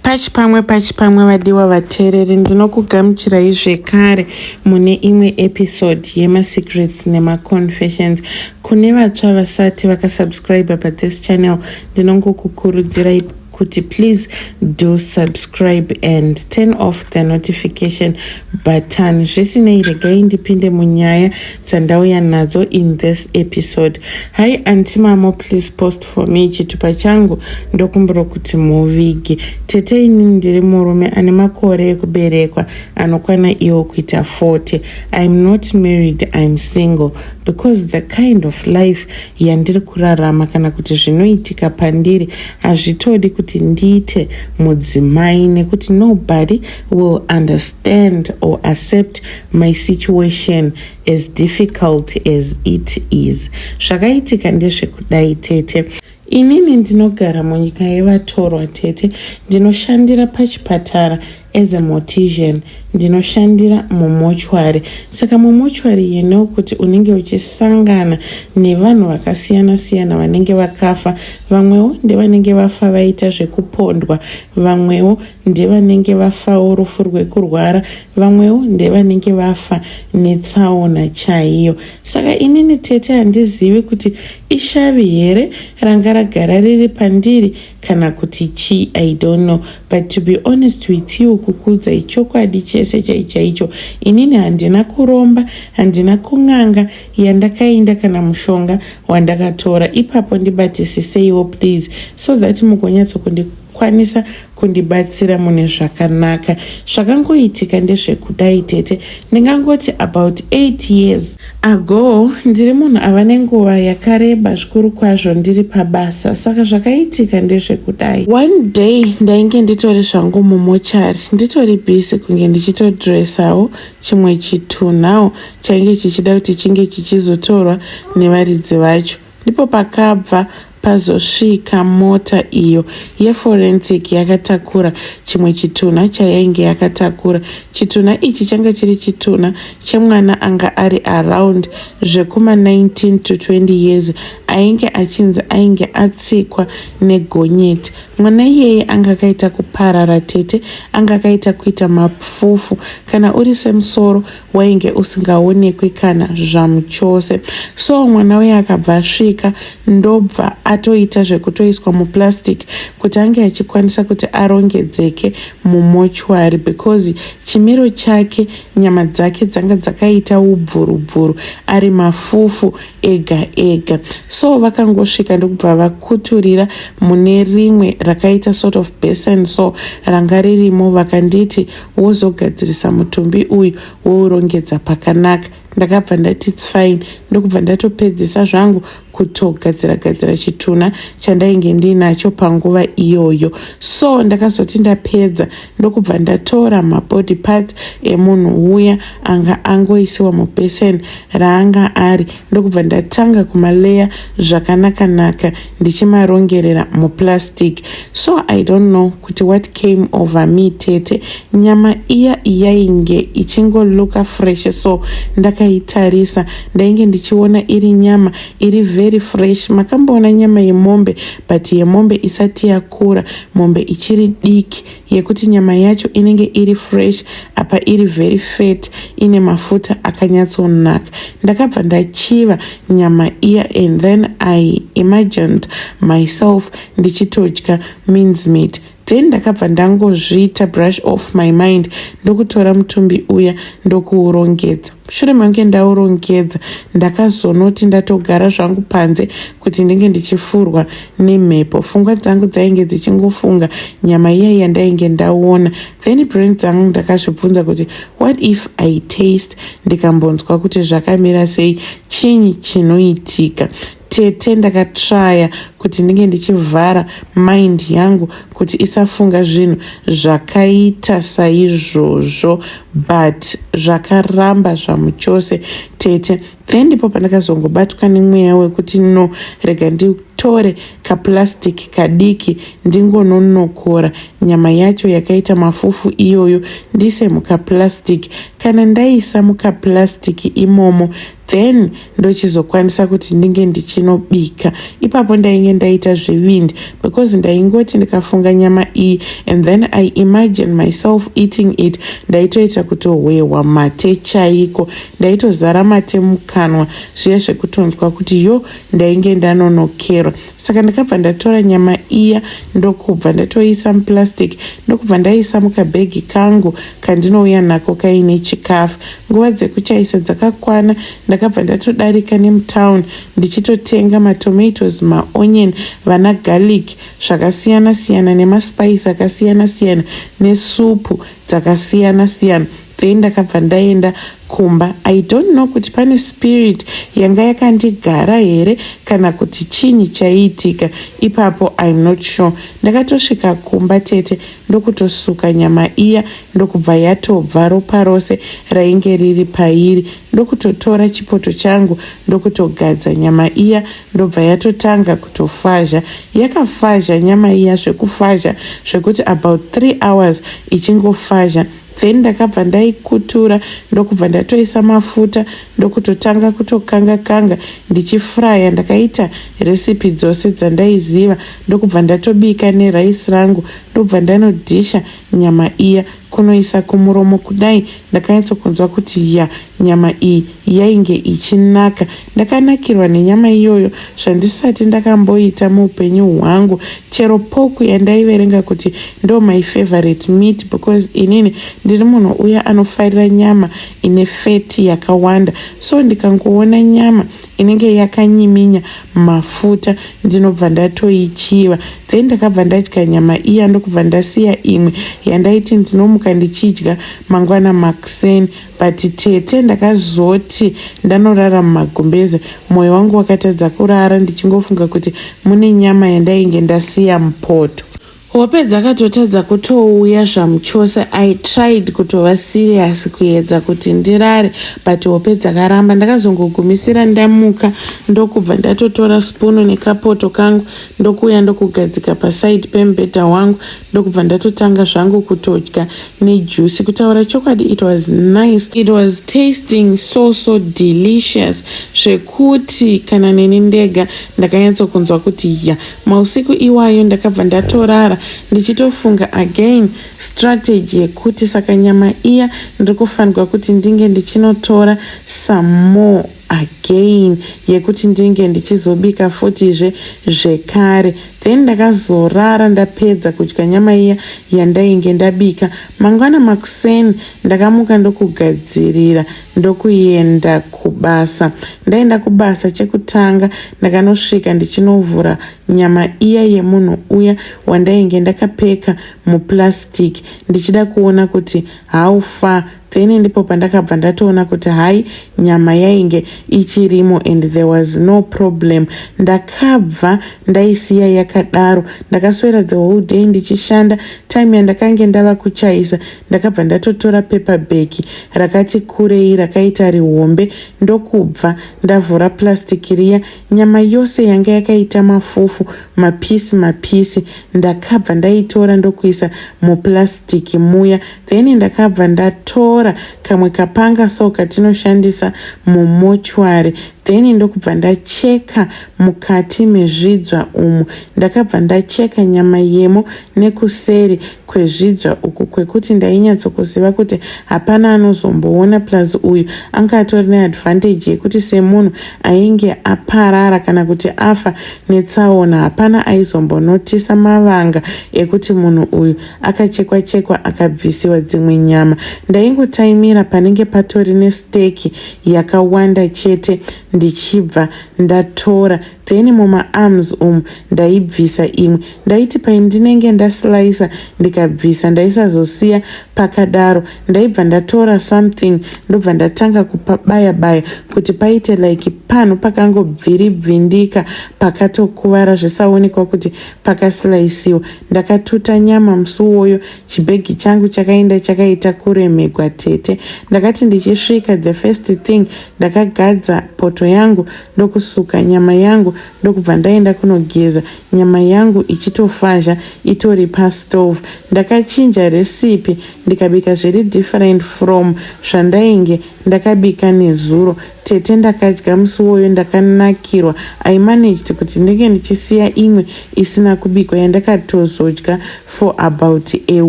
Pachipamwe pachipamwe vadiwa vateereri ndinokugamuchirai zvekare mune imwe episode yemasecrets nemaconfessions kune vatsva vasati vakasubscribe pathis channel ndinongokukurudzirai kuti please do subscribe and turn off the notification button zvisinei regai ndipinde munyaya dzandauya nadzo in this episode hi antimamo please post for me chitupa changu ndokumbira kuti muvige tete ini ndiri murume ane makore ekuberekwa anokwana iwo kuita 40 iam not married iam single because the kind of life yandiri kurarama kana kuti zvinoitika pandiri hazvitodi kuti ndiite mudzimai nekuti nobody will understand or accept my situation As difficult as it is. Zvakaitika ndezvekudai tete. Inini ndinogara munyika yevatorwa tete. Ndinoshandira pachipatara as a mortician. Ndinoshandira mumochwari. Saka mumochwari you know kuti unenge uchisangana nevanhu vakasiyana siyana vanenge vakafa. Vamwewo ndevanenge vafa vaita zvekupondwa. Vamwewo ndevanenge vafawo rufu rwekurwara vamwewo ndevanenge vafa netsaona chaiyo saka inini tete handizivi kuti ishavi here ranga ragara riri pandiri kana kuti chii i don't know but to be honest with you kukuudza ichokwadi chese chaichaicho inini handina kuromba handina kun'anga yandakainda kana mushonga wandakatora ipapo ndibatisiseiwo please so that mugonyatsokundi kwanisa kundibatsira mune zvakanaka zvakangoitika ndezvekudai tete ndingangoti about 8 years ago ndiri munhu ava nenguva yakareba zvikuru kwazvo ndiri pabasa saka zvakaitika ndezvekudai one day ndainge nditori zvangu mumochari nditori busy kunge ndichitodressawo chimwe chitunhawo chainge chichida kuti chinge chichizotorwa nevaridzi vacho Ndipo pakabva pazosvika mota iyo yeforensic yakatakura chimwe chitunha chayainge yakatakura. Chitunha ichi changa chiri chitunha chemwana anga ari around zvekuma 19 to 20 years ainge achinzi ainge atsikwa negonyeti. Mwana iyeye anga akaita kuparara tete, anga akaita kuita mapfufu. Kana uri semusoro wainge usingaonekwi kana zvamuchose so mwana uye akabva asvika ndobva atoita zvekutoiswa muplastic kuti ange achikwanisa kuti arongedzeke mumochwari because chimiro chake nyama dzake dzanga dzakaita ubvurubvuru ari mafufu ega ega so vakangosvika ndokubva vakuturira mune rimwe rakaita sort of basin so ranga ririmo vakanditi wozogadzirisa mutumbi uyu wourongedza pakanaka ndakabva ndati its fine ndokubva ndatopedzisa zvangu kutogadzira gadzira chitunha chandainge ndiinacho panguva iyoyo so ndakazoti ndapedza ndokubva ndatora mabody parts emunhu uya anga angoisiwa mubesin raanga ari ndokubva ndatanga kumaleya zvakanaka naka ndichimarongerera muplastic so i don't know kuti what came over me tete nyama iya yainge ichingoluka fresh so ndakaitarisa ndainge ndichiona iri nyama iri very fresh makamboona nyama yemombe but yemombe isati yakura mombe ichiri diki yekuti nyama yacho inenge iri fresh apa iri very fat ine mafuta akanyatsonaka ndakabva ndachiva nyama iya and then i imagined myself ndichitodya means meat then ndakabva ndangozviita brush off my mind ndokutora mutumbi uya ndokuurongedza mushure mange ndaurongedza ndakazonoti ndatogara zvangu panze kuti ndinge ndichifurwa nemhepo fungwa dzangu dzainge dzichingofunga nyama iya yandainge ndaona then brain dzangu ndakazvibvunza kuti what if i taste ndikambonzwa kuti zvakamira sei chinyi chinoitika Tete ndakatraya kuti ndinge ndichivhara mind yangu kuti isafunga zvinhu zvakaita saizvozvo but zvakaramba zvamuchose tete then ndipo pandakazongobatwa nemweya wekuti no rega nditore kaplastic kadiki ndingononokora nyama yacho yakaita mafufu iyoyo ndise mukaplastic kana ndaisa mukaplastic imomo then ndochizokwanisa kuti ndinge ndichinobika ipapo ndainge ndaita zvevindi because ndaingoti ndikafunga nyama iyi and then i imagine myself eating it ndaitoita kutohwehwa mate chaiko ndaitozara mate mukanwa zviye zvekutonzwa kuti yo ndainge ndanonokerwa saka ndakabva ndatora nyama iya ndokubva ndatoiisa muplastic ndokubva ndaiisa mukabhegi kangu kandinouya nako kaine chikafu nguva dzekuchaisa dzakakwana ndakabva ndatodarika nemutown ndichitotenga matomatoes maonion vana garlic zvakasiyana siyana nemaspice akasiyana siyana nesupu dzakasiyana siyana Then ndakabva ndaenda kumba. I don't know kuti pane spirit yanga yakandigara here kana kuti chinyi chaiitika ipapo I'm not sure. Ndakatosvika kumba tete ndokutosuka nyama iya ndokubva yatobva ropa rose rainge riri pairi ndokutotora chipoto changu ndokutogadza nyama iya ndobva yatotanga kutofazha. Yakafazha nyama iya zvekufazha zvekuti about three hours ichingofazha then ndakabva ndaikutura ndokubva ndatoisa mafuta ndokutotanga kutokanga kanga ndichifraya ndakaita recipe dzose dzandaiziva ndokubva ndatobika nerice rangu ndokubva ndanodhisha nyama iya kunoisa kumuromo kudai ndakanyatsokunzwa kuti ya nyama iyi yainge ichinaka Ndakanakirwa nenyama iyoyo zvandisati ndakamboita muupenyu hwangu chero pork yandaiverenga kuti ndo my favorite meat because inini ndiri munhu uya anofarira nyama ine fat yakawanda so ndikangoona nyama inenge yakanyiminya mafuta ndinobva ndatoichiva then ndakabva ndadya nyama iya ndokubva ndasiya imwe yandaiti ndinomuka ndichidya mangwana makuseni but tete ndakazoti ndanorara mumagumbeze mwoyo wangu wakatadza kurara ndichingofunga kuti mune nyama yandainge ndasiya mupoto hope dzakatotadza kutouya zvamuchose i tried kutova serious kuedza kuti ndirare but hope dzakaramba ndakazongogumisira ndamuka ndokubva ndatotora spunu nekapoto kangu ndokuuya ndokugadzika paside pemubhedha wangu ndokubva ndatotanga zvangu kutodya nejusi kutaura chokwadi it was nice it was tasting so so delicious zvekuti kana neni ndega ndakanyatsokunzwa kuti ya mausiku iwayo ndakabva ndatorara ndichitofunga again strategy yekuti saka nyama iya ndiri kufanirwa kuti ndinge ndichinotora some more again yekuti ndinge ndichizobika futizve zvekare then ndakazorara ndapedza kudya nyama iya yandainge ndabika mangwana makuseni ndakamuka ndokugadzirira ndokuenda kubasa ndaenda kubasa chekutanga ndakanosvika ndichinovhura nyama iya yemunhu uya wandainge ndakapeka muplastic ndichida kuona kuti how far then ndipo pandakabva ndatoona kuti hayi nyama yainge ichirimo and there was no problem ndakabva ndaisiya yakadaro ndakaswera the whole day ndichishanda time yandakange ndava kuchaisa ndakabva ndatotora paper bag rakati kurei rakaita rihombe ndokubva ndavhura plastic riya nyama yose yanga yakaita mafufu mapisi mapisi ndakabva ndaitora ndokuisa muplastic muya then ndakabva ndatora kamwe kapanga so katinoshandisa mumochwari then ndokubva ndacheka mukati mezvidzva umu ndakabva ndacheka nyama yemo nekuseri kwezvidzva uku kwekuti ndainyatsokuziva kuti hapana anozomboona plus uyu anga atori neadvantage yekuti semunhu ainge aparara kana kuti afa netsaona hapana aizombonotisa mavanga ekuti munhu uyu akachekwa chekwa akabvisiwa dzimwe nyama ndaingotaimira panenge patori nesteki yakawanda chete ndichibva ndatora then mumaarms umu ndaibvisa imwe ndaiti paindinenge ndaslicer ndikabvisa ndaisazosiya pakadaro ndaibva ndatora something ndobva ndatanga kupabaya baya kuti paite like panhu pakangobviribvindika pakatokuvara zvisaonekwa kuti pakasilaisiwa ndakatuta nyama musi uwoyo chibhegi changu chakaenda chakaita kuremegwa tete ndakati ndichisvika the first thing ndakagadza poto yangu ndokusuka nyama yangu ndokubva ndaenda kunogeza nyama yangu ichitofazha itori pastove ndakachinja recipe ndikabika zviri different from zvandainge ndakabika nezuro Tete ndakadya musi woyo ndakanakirwa I managed kuti ndenge ndichisiya imwe isina kubikwa yandakatozodya for about a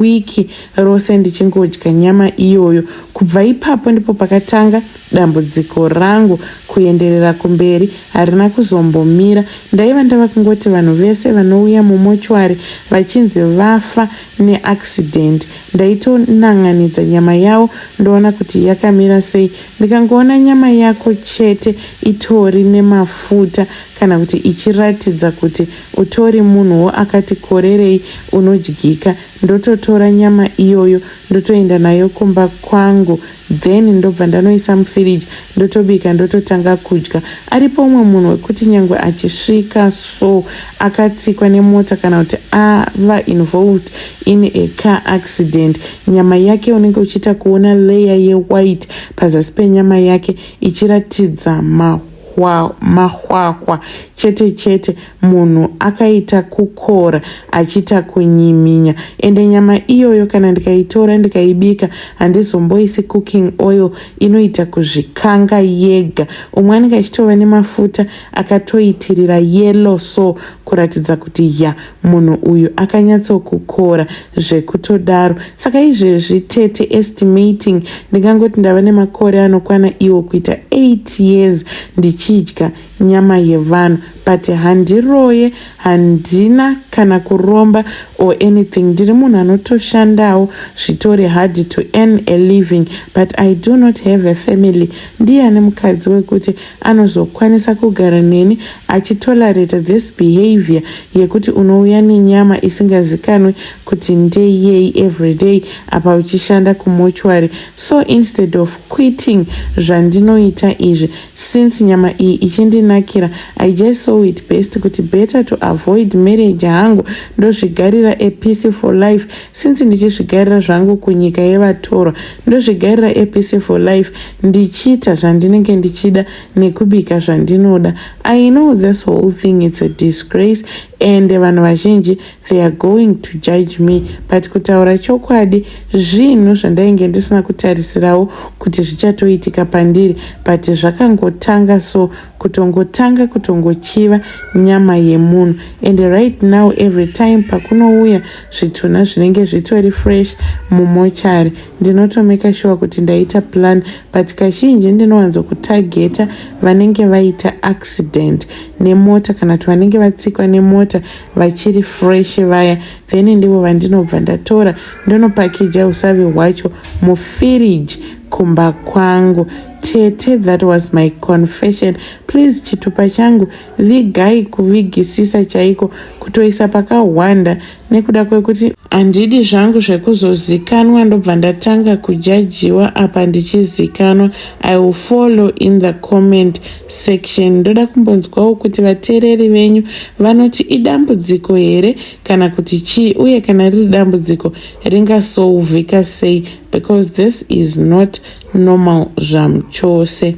week rose ndichingodya nyama iyoyo. Kubva ipapo ndipo pakatanga dambudziko rangu kuenderera kumberi harina kuzombomira. Ndaiva ndava kungoti vanhu vese vanouya mumochwari vachinzi vafa neaccident ndaitonan'anidza nyama yavo ndoona kuti yakamira sei Ndikangoona nyama yako chete itori nemafuta kana kuti ichiratidza kuti utori munhuwo akati korerei unodyika ndototora nyama iyoyo ndotoenda nayo kumba kwangu then ndobva ndanoisa mufiriji ndotobika ndototanga kudya. Aripo umwe munhu wekuti nyangwe achisvika so akatsikwa nemota kana kuti ava involved in a car accident Nyama yake unenge uchiita kuona leya yewhite pazasi penyama yake ichiratidza mahwa, mahwahwa chete chete, munhu akaita kukora achiita kunyiminya. Ende nyama iyoyo kana ndikaitora ndikaibika handizomboisi cooking oil, inoita kuzvikanga yega. Umwe anenge achitova nemafuta akatoitirira yellow so kuratidza kuti ya Munhu uyu akanyatsokukora zvekutodaro. Saka izvezvi tete estimating ndingangoti ndava nemakore anokwana iwo kuita 8 years ndichidya nyama yevanhu but handiroye, handina kana kuromba or anything. Ndiri munhu anotoshandawo zvitori hard to earn a living but I do not have a family. Ndiye ane mukadzi wekuti anozokwanisa kugara neni achitolerate this behavior yekuti unouya nenyama isingazikanwi kuti ndeyei everyday apa uchishanda kumortuary so instead of quitting zvandinoita izvi since nyama iyi ichindinakira i just saw it best kuti better to avoid marriage hangu ndozvigarira a peaceful life since ndichizvigarira zvangu kunyika yevatorwa ndozvigarira a peaceful life ndichiita zvandinenge ndichida nekubika zvandinoda i know this whole thing it's a disgrace and vanhu vazhinji they are going to judge me but kutaura chokwadi zvinhu zvandainge ndisina kutarisirawo kuti zvichatoitika pandiri but zvakangotanga so kutongotanga kutongochiva nyama yemunhu and right now every time pakunouya zvitunha zvinenge zvitori fresh mumochari ndinotomeka shuwa kuti ndaita plan but kazhinji ndinowanzo kutageta vanenge vaita accident nemota kana kuti vanenge vatsikwa nemota vachiri fresh vaya then ndivo vandinobva ndatora ndonopakija usavi hwacho mufiriji kumba kwangu tete that was my confession please chitupa changu vigai kuvigisisa chaiko kutoisa pakahwanda nekuda kwekuti handidi zvangu zvekuzozikanwa ndobva ndatanga kujajiwa apa ndichizikanwa i will follow in the comment section ndoda kumbonzwawo kuti vateereri venyu vanoti idambudziko here kana kuti chii uye kana riri dambudziko ringasouvhika sei because this is not normal zvamuchose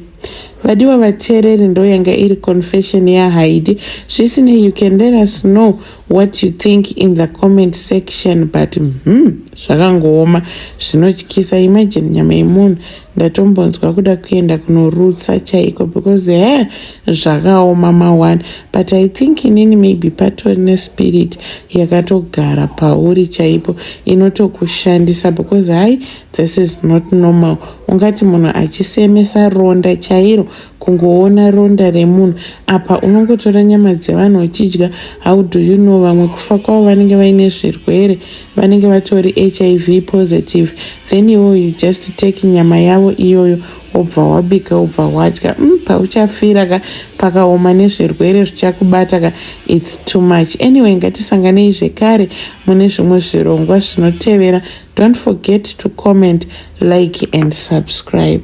vadiwa vateereri ndo yanga iri confession yahaidi zvisinei you can let us know what you think in the comment section but hmm, zvakangooma zvinotyisa imagine nyama yemunhu ndatombonzwa kuda kuenda kunorutsa chaiko because he zvakaoma maone but i think inini maybe patori nespirit yakatogara pauri chaipo inotokushandisa because hai This is not normal. Ungati munhu achisemesa ronda chairo kungoona ronda remunhu apa unongotora nyama dzevanhu uchidya how do you know vamwe kufa kwavo vanenge vaine zvirwere vanenge vatori hiv positive then iwo you just take nyama yavo iyoyo wobva wabika wobva wadya mm, pauchafira ka pakaoma nezvirwere zvichakubata ka its too much anyway ngatisanganei zvekare mune zvimwe zvirongwa zvinotevera don't forget to comment like and subscribe